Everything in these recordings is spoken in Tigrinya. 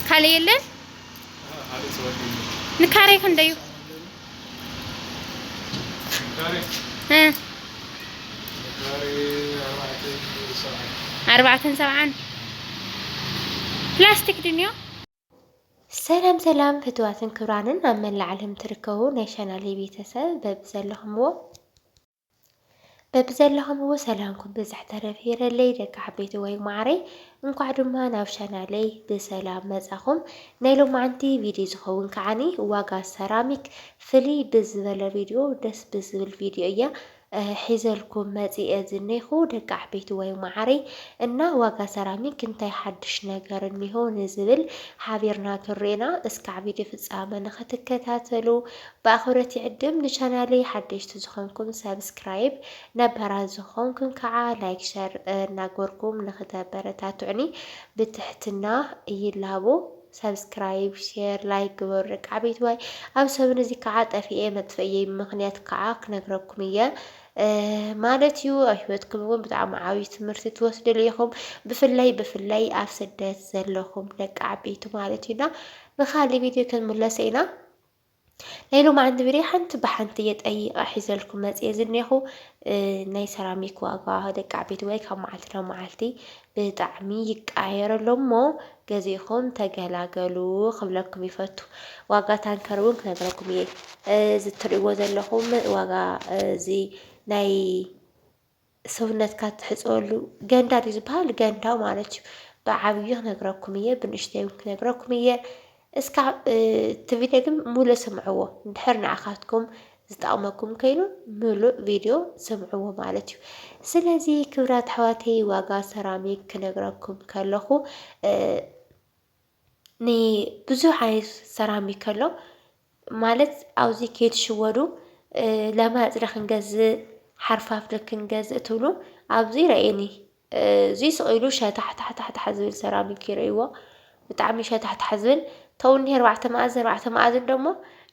ካልእ የለን ንካሬ ክንደዩ ኣርባዕተን ሰብዓን ፕላስቲክ ድንዮ ሰላም ሰላም ፍትዋትን ክብራንን ኣብ መላእ ዓለም ትርከቡ ናይ ቻናለይ ቤተሰብ በብዘለኹምዎ በብዘለኹምዎ ሰላምኩም ብዝሕ ተረፍ ይረለይ ደቂ ዓበይቲ ወይ ማዕረይ እንኳዕ ድማ ናብ ቻናለይ ብሰላም መጻኹም ናይ ሎማዓንቲ ቪድዮ ዝኸውን ከዓኒ ዋጋ ሰራሚክ ፍልይ ብዝበለ ቪድዮ ደስ ብዝብል ቪድዮ እያ ሒዘልኩም መጺኤ ዝኔኹ ደቂ ዓበይቲ ወይ ማዕረይ እና ዋጋ ሰራሚክ እንታይ ሓድሽ ነገር እኒሆ ንዝብል ሓቢርና ክንርኤና እስካዕ ቪድዮ ፍጻመ ንኽትከታተሉ ብኣኽብሮት ይዕድም ንቻናለይ ሓደሽቲ ዝኾንኩም ሳብስክራይብ ነባራት ዝኾንኩም ካዓ ላይክ ሸር እናግበርኩም ንኽተበረታቱዑኒ ብትሕትና ይላቦ ሳብስክራይብ ሼር ላይክ ግበሩ ደቂ ዓበይትዋይ ኣብ ሰብን እዚ ካዓ ጠፊኤ መጥፍእየይ ምኽንያት ካዓ ክነግረኩም እየ ማለት እዩ ኣብ ሂወትኩም እውን ብጣዕሚ ዓብዪ ትምህርቲ ትወስድሉ ኢኹም ብፍላይ ብፍላይ ኣብ ስደት ዘለኹም ደቂ ዓበይቲ ማለት እዩና ብካሊእ ቪድዮ ክንምለሰ ኢና ናይ ሎማዓንቲ ቪድዮ ሓንቲ ብሓንቲ እየ ጠይቐ ሒዘልኩም መፅየ ዝኔኹ ናይ ሰራሚክ ዋጋ ደቂ ዓበይቲ ወይ ካብ መዓልቲ ናብ መዓልቲ ብጣዕሚ ይቀያየር ኣሎ እሞ ገዚእኹም ተገላገሉ ክብለኩም ይፈቱ። ዋጋ ታንከር እውን ክነግረኩም እየ እዚ እትርእይዎ ዘለኹም ዋጋ እዚ ናይ ሰውነትካ ትሕጸወሉ ገንዳ ድዩ ዝበሃል ገንዳ ማለት እዩ። ብዓብዩ ክነግረኩም እየ ብንእሽተይ እውን ክነግረኩም እየ። እስካዕ እቲ ቪድዮ ግን ሙሉእ ስምዕዎ እንድሕር ንዓኻትኩም ዝጠቕመኩም ከይኑ ምሉእ ቪድዮ ስምዕዎ ማለት እዩ። ስለዚ ክብራት ኣሕዋተይ ዋጋ ሰራሚክ ክነግረኩም ከለኹ ን ብዙሕ ዓይነት ሰራሚክ ኣሎ ማለት ኣብዚ ከይትሽወዱ ለማፅዳ ክንገዝእ ሓርፋፍደ ክንገዝእ ትብሉ ኣብዚ ረእዩኒ እዙይ ስቅ ኢሉ ሸታሕታሕታሕ ዝብል ሰራሚክ እዩ ረእይዎ ብጣዕሚ ሸታሕታሕ ዝብል ተው እኒሀ ኣርባዕተ መኣዝን ኣርባዕተ መኣዝን ደሞ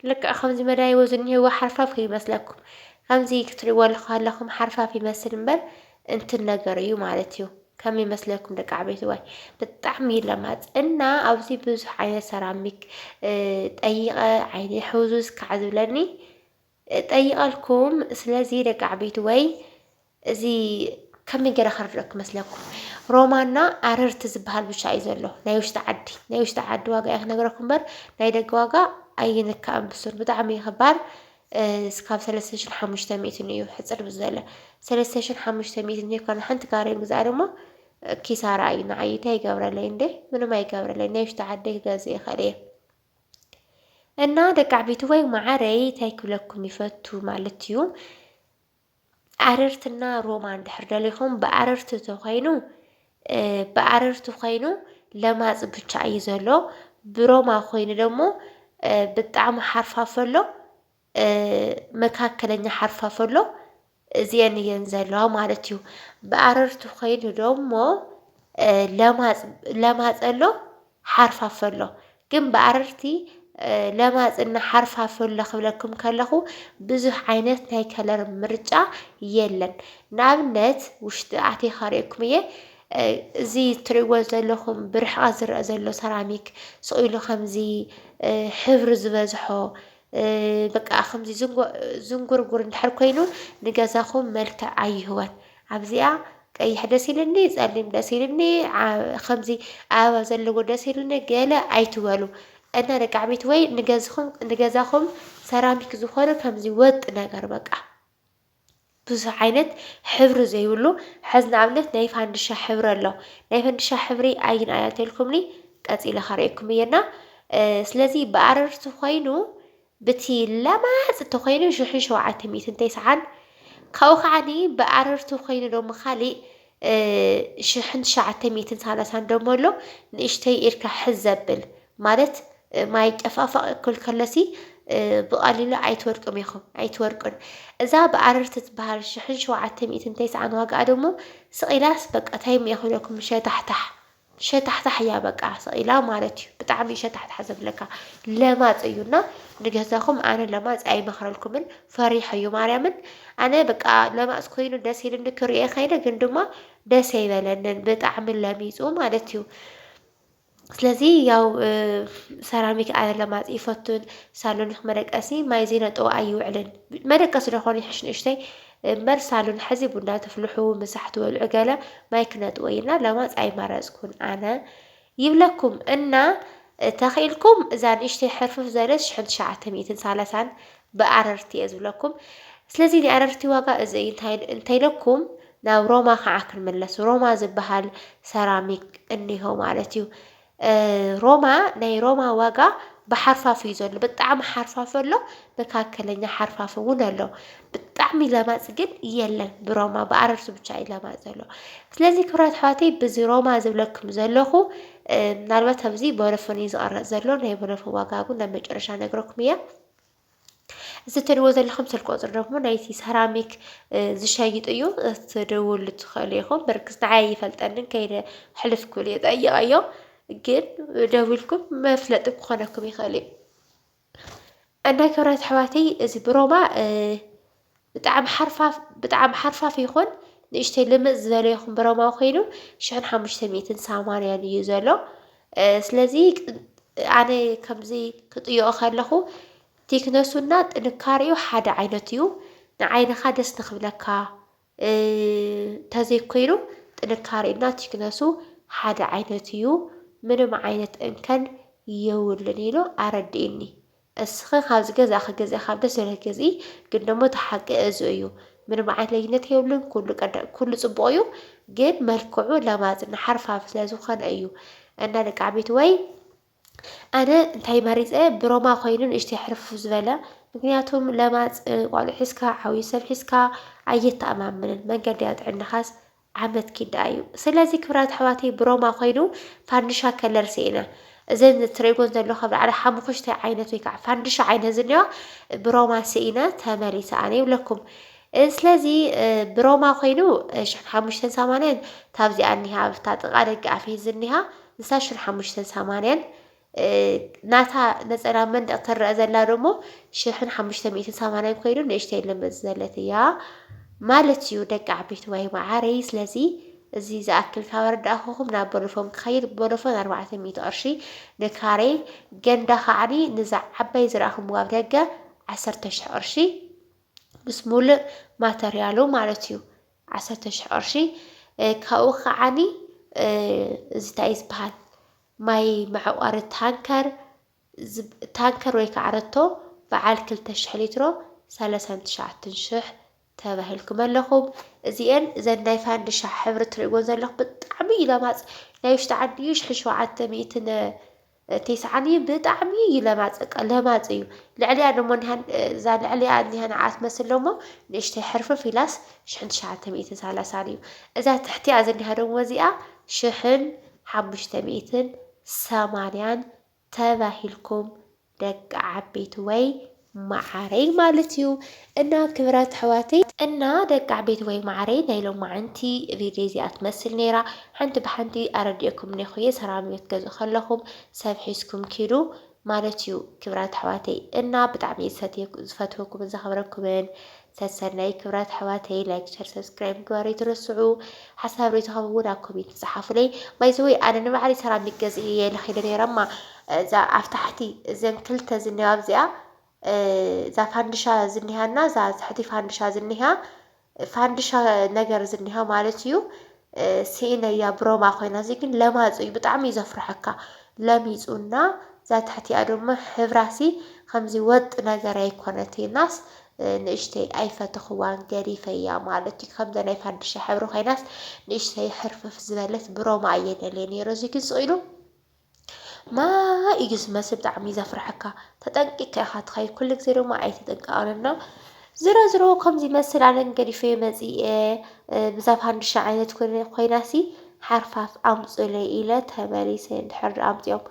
ልክዕ ከምዚ መደያይቦ ዝኒሀዎ ሓርፋፍ ከይመስለኩም ከምዚ ክትሪእዎ ከለኹም ሓርፋፍ ይመስል እምበር እንትን ነገር እዩ ማለት እዩ። ከም ይመስለኩም ደቂ ዓበይትዋይ ብጣዕሚ እዩ ለማፅ እና ኣብዚ ብዙሕ ዓይነት ሰራሚክ ጠይቐ ዓይኒ ሕዙዝ ካዕ ዝብለኒ ጠይቐልኩም። ስለዚ ደቂ ዓበይትወይ እዚ ከመይ ገይረ ክርድኦ ክመስለኩም ሮማና ኣረርቲ ዝበሃል ብቻ እዩ ዘሎ ናይ ውሽጢ ዓዲ ናይ ውሽጢ ዓዲ ዋጋ እየ ክነግረኩም እምበር ናይ ደገ ዋጋ ኣይንካእን ብሱር ብጣዕሚ እዩ ክባር እስካብ ሰለስተ ሽሕን ሓሙሽተ ሚእትን እዩ ሕጽር ብዝበለ ሰለስተ ሽሕን ሓሙሽተ ሚእትን ሂብካ ንሓንቲ ካሬ ምግዛእ ድማ ኪሳራ እዩ ንዓይ እንታይ ይገብረለይ እንዴ ምንም ኣይገብረለይ ናይ ውሽጢ ዓደይ ክገዝእ ይኽእል እየ እና ደቂ ዓበይቲ ወይ ማዓረይ እንታይ ክብለኩም ይፈቱ ማለት እዩ ኣረርትና ሮማ እንድሕር ደሊኹም ብኣረርቲ ተኾይኑ ብኣረርቲ ኾይኑ ለማፅ ብቻ እዩ ዘሎ ብሮማ ኮይኑ ደሞ ብጣዕሚ ሓርፋፍ ኣሎ መካከለኛ ሓርፋፍ ኣሎ እዚኤን እየን ዘለዋ ማለት እዩ። ብኣረርቲ ኾይኑ ደሞ ለማፅ ለማፅ ኣሎ። ሓርፋፈሎ ግን ብኣረርቲ ለማጽ እና ሓርፋፈሎ ክብለኩም ከለኹ ብዙሕ ዓይነት ናይ ከለር ምርጫ የለን ንኣብነት ውሽጢ ኣቴ ካርእኩም እየ እዚ እትሪእዎ ዘለኹም ብርሕቐት ዝረአ ዘሎ ሰራሚክ ስቕ ኢሉ ከምዚ ሕብሪ ዝበዝሖ በቃ ከምዚ ዝንጎ ዝንጉርጉር እንድሕር ኮይኑ ንገዛኹም መልክዕ ኣይህቦን። ኣብዚኣ ቀይሕ ደስ ኢልኒ ጸሊም ደስ ኢልኒ ከምዚ ኣበባ ዘለዎ ደስ ኢልኒ ገለ ኣይትበሉ እና ደቂ ዓበይቲ ወይ ንገዛኹም ሰራሚክ ዝኾነ ከምዚ ወጥ ነገር በቃ ብዙሕ ዓይነት ሕብሪ ዘይብሉ ሕዚ ንኣብነት ናይ ፋንድሻ ሕብሪ ኣሎ ናይ ፈንድሻ ሕብሪ ኣይን ኣያተልኩምኒ ቀፂለ ከርእየኩም እየና ስለዚ ብኣረርቲ ኮይኑ ብቲ ለማጽ ተኮይኑ ሽሕን ሸውዓተ ሚእትን ተስዓን ካብኡ ከዓኒ ብኣረርቲ ኮይኑ ደሞ ካሊእ ሽሕን ትሽዓተ ሚእትን ሳላሳን ደሞ ኣሎ ንእሽተይ ኢድካ ሕዝ ዘብል ማለት ማይ ጨፋፋቅ እኩል ከሎሲ ብቀሊሉ ኣይትወድቁም ኢኹም ኣይትወድቁን እዛ ብኣረርቲ ትበሃል ሽሕን ሸውዓተ ሚእትን ተስዓን ዋጋኣ ደሞ ስቅ ኢላስ በቃ ታይ እሞ ይኹነኩም ሸታሕታሕ ሸታሕታሕ እያ በቃ ስቅ ኢላ ማለት እዩ ብጣዕሚ እዩ ሸታሕታሕ ዘብለካ ለማፅ እዩ እና ንገዛኹም ኣነ ለማፅ ኣይመኽረልኩምን ፈሪሕ እዩ ማርያምን ኣነ በቃ ለማፅ ኮይኑ ደስ ኢልኒ ክሪኦ ከይደ ግን ድማ ደስ ኣይበለንን ብጣዕሚ ለሚፁ ማለት እዩ ስለዚ ያው ሰራሚክ ኣነ ለማፅ ይፈቱን ሳሎን መደቀሲ ማይ ዘይነጠው ኣይውዕልን መደቀሲ ዶ ይሕሽ ንእሽተይ እምበር ሳሎን ሐዚ ቡና ትፍልሑ ምሳሕ ትበልዑ ገለ ማይ ክነጥወይ እና ለማፅ ኣይመረፅኩን ኣነ ይብለኩም እና ተኺእልኩም እዛ ንእሽተይ ሕርፍፍ ዘለት ሽሕን ትሽዓተ ሚእትን ሳላሳን ብኣረርቲ እየ ዝብለኩም ስለዚ ናይ ኣረርቲ ዋጋ እዚ እዩ እንታይ እንተይለኩም ናብ ሮማ ከዓ ክንምለስ ሮማ ዝበሃል ሰራሚክ እኒሆ ማለት እዩ ሮማ ናይ ሮማ ዋጋ ብሓርፋፍ እዩ ዘሎ ብጣዕሚ ሓርፋፍ ኣሎ መካከለኛ ሓርፋፍ እውን ኣሎ ብጣዕሚ ለማፅ ግን የለን ብሮማ ብኣረርሱ ብቻ እዩ ለማፅ ዘሎ ስለዚ ክብራት ኣሕዋተይ ብዚ ሮማ ዝብለኩም ዘለኹ ምናልባት ኣብዚ ቦሎፎን እዩ ዝቐረፅ ዘሎ ናይ ቦሎፎን ዋጋ እውን ናብ መጨረሻ ነግረኩም እያ እዚ እትሪእዎ ዘለኹም ስልኪ ቁፅሪ ደሞ ናይቲ ሰራሚክ ዝሸይጥ እዩ። ክትድውሉ ትኽእሉ ኢኹም። ብርግፅ ንዓይ ኣይፈልጠንን ከይደ ሕልፍኩ እየ ጠይቐዮ። ግን ደዊልኩም መፍለጢ ክኾነኩም ይኽእል እዩ። እና ክብራት ኣሕዋተይ እዚ ብሮማ ብጣዕሚ ሓርፋፍ ብጣዕሚ ሓርፋፍ ይኹን ንእሽተይ ልምፅ ዝበለ ይኹን ብረማዊ ኮይኑ ሽሕን ሓሙሽተ ሚእትን ሰማንያን እዩ ዘሎ ስለዚ ኣነ ከምዚ ክጥይኦ ከለኹ ቲክነሱና ጥንካሬኡ ሓደ ዓይነት እዩ ንዓይንኻ ደስ ንክብለካ ተዘይኮይኑ ጥንካሬኡና ቲክነሱ ሓደ ዓይነት እዩ ምንም ዓይነት እንከን የብሉን ኢሉ ኣረዲኡኒ። እስኸ ካብ ዝገዛእኺ ግዝኢ ካብ ደስ ዝብለኪ ግዝኢ ግን ደሞ እቲ ሓቂ እዚ እዩ ምንም ዓይነት ለይነት የብሉን ኩሉ ቀዳ ኩሉ ጽቡቕ እዩ ግን መልክዑ ለማጽን ሓርፋፍ ስለ ዝኾነ እዩ እና ደቂ ዓበይትወይ ኣነ እንታይ መሪጸ ብሮማ ኮይኑ ንእሽተይ ሕርፍፍ ዝበለ ምክንያቱም ለማጽ ቋልዑ ሒዝካ ዓብዩ ሰብ ሒዝካ ኣየተኣማምንን መንገዲ ጥዕናኻስ ዓመት ኪድ ደኣ እዩ ስለዚ ክብራት ኣሕዋተይ ብሮማ ኮይኑ ፋንድሻ ከለር ስኢነ እዘን ትርእይጎን ዘለኹ ኣብ ላዕሊ ሓሙኽሽታይ ዓይነት ወይ ከዓ ፋንድሻ ዓይነት ዝኒኦ ብሮማ ስኢነ ተመሊሰ ኣነ ይብለኩም ስለዚ ብሮማ ኮይኑ ሽሕን ሓሙሽተን ሰማንያን ታብዚኣ እኒሃ ኣብታ ጥቃ ደገ ኣፍየ ዝኒሃ ንሳ ሽን ሓሙሽተን ሰማንያን ናታ ነጸላ መንደቕ ትረኣ ዘላ ደሞ ሽሕን ሓሙሽተ ሚእትን ሰማንያን ኮይኑ ንእሽተይ ልምፅ ዘለት እያ ማለት እዩ ደቂ ዓበይቲ ዋይ መዓረይ ስለዚ እዚ ዝኣክል ካብ ኣረዳእኹኹም ናብ ቦሎፎን ክኸይድ ቦሎፎን ኣርባዕተ ሚእቲ ቅርሺ ንካሬ ገንዳ ከዓኒ ንዛ ዓባይ ዝረኣኹም ኣብ ደገ ዓሰርተ ሽሕ ቅርሺ ምስ ሙሉእ ማተርያሉ ማለት እዩ ዓሰርተ ሽሕ ቅርሺ ካብኡ ከዓኒ እዚ እንታይ እዩ ዝበሃል ማይ መዕቋሪ ታንከር፣ ታንከር ወይ ከዓ ረቶ በዓል ክልተ ሽሕ ሊትሮ ሰለሳን ትሽዓትን ሽሕ ተባሂልኩም ኣለኹም። እዚኤን እዘን ናይ ፋንድሻ ሕብሪ ትርእይዎን ዘለኹም ብጣዕሚ እዩ ለማፅ ናይ ውሽጢ ዓዲ እዩ ሽሕን ሸውዓተ ሚእትን ቴስዓን እዩ ብጣዕሚ እዩ ለማፅ በቃ ለማፅ እዩ ልዕሊያ ደሞ እኒሃን እዛ ልዕሊያ እኒሃ ንዓ ትመስል ደሞ ንእሽተይ ሕርፍፍ ኢላስ ሽሕን ትሽዓተ ሚእትን ሰላሳን እዩ እዛ ትሕቲያ ዝኒሃ ደሞ እዚኣ ሽሕን ሓሙሽተ ሚእትን ሰማንያን ተባሂልኩም ደቂ ዓበይቲ ወይ ማዓረይ ማለት እዩ እና ክብራት ኣሕዋተይ። እና ደቂ ዓበይቲ ወይ ማዓረይ ናይ ሎማዓንቲ ቪድዮ እዚኣ ትመስል ነይራ ሓንቲ ብሓንቲ ኣረዲኤኩም እኔኹ እየ ሰራሚዮ ትገዝኡ ከለኹም ሰብ ሒዝኩም ኪዱ ማለት እዩ ክብራት ኣሕዋተይ እና ብጣዕሚ እየ ዝፈትወኩምን ዘኽብረኩምን ሰሰናዩ ክብራት ኣሕዋተይ ላይክ ሸር ሰብስክራይብ ምግባር ኣይትረስዑ ሓሳብ ሪኢቶኹም እውን ኣብ ኮሜንት ጸሓፉለይ ባይዘወይ ኣነ ንባዕለይ ሰራሚክ ገዚእ እየ ለኺደ ነይረ እማ እዛ ኣብ ታሕቲ እዘን ክልተ ዝኒሃ ኣብዚኣ እዛ ፋንድሻ ዝኒሃና እዛ ትሕቲ ፋንድሻ ዝኒሃ ፋንድሻ ነገር ዝኒሃ ማለት እዩ ሲኢነያ ብሮማ ኮይና እዚ ግን ለማጹ እዩ ብጣዕሚ እዩ ዘፍርሐካ ለሚጹና እዛ ትሕቲኣ ድማ ሕብራሲ ከምዚ ወጥ ነገር ኣይኮነትናስ ንእሽተይ ኣይፈተኽዋን ገዲፈያ ማለት እዩ ከምዛ ናይ ፋንድሻ ሕብሪ ኮይናስ ንእሽተይ ሕርፍፍ ዝበለት ብሮማ እየ ደልየ ነይሩ እዚ ግን ስኢኑ ማይ እዩ ዝመስል ብጣዕሚ እዩ ዘፍርሐካ ተጠንቂቅካ ኢኻ ትኸይድ ኩሉ ግዜ ድማ ኣይትጥንቀቕን እና ዝሮ ዝሮ ከምዚ ይመስል ኣነ ግን ገዲፈዮ መፂኤ ብዛ ፋንድሻ ዓይነት ኮይናሲ ሓርፋፍ ኣምፁለይ ኢለ ተመሊሰ እንድሕር ድኣ ኣምፂኦም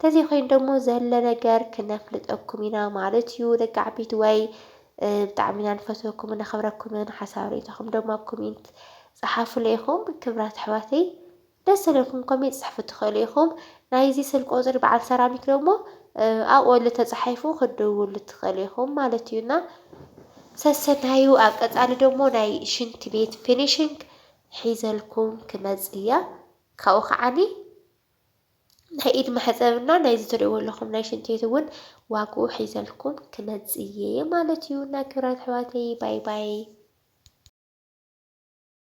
ተዘይኮይኑ ደሞ ዘለ ነገር ክነፍልጠኩም ኢና ማለት እዩ ደቂ ዓበይቲ ወይ ብጣዕሚ ኢና ንፈትወኩምን ነኽብረኩምን ሓሳብ ርእይቶኹም ደሞ ኣብ ኮሜንት ፀሓፉለይ ኢኹም ክብራት ኣሕዋተይ ደስ ልልኩም ኮሜት ጽሕፉ ትክእሉ ኢኩም ናይዚ ስልክ ቁጽሪ በዓል ሰራሚክ ደሞ ኣብኡ ኣሎ ተጻሒፉ ክትድውሉ ትክእሉ ኢኩም ማለት እዩ እና ሰሰናዩ ኣብ ቀጻሊ ደሞ ናይ ሽንቲ ቤት ፊኒሽንግ ሒዘልኩም ክመጽ እየ ካብኡ ከዓኒ ናይ ኢድ መሕጸብ እና ናይዚ ትርእይዎ ኣለኹም ናይ ሽንቲ ቤት እውን ዋግኡ ሒዘልኩም ክመጽ እየ ማለት እዩ እና ክብራት ኣሕዋተይ ባይ ባይ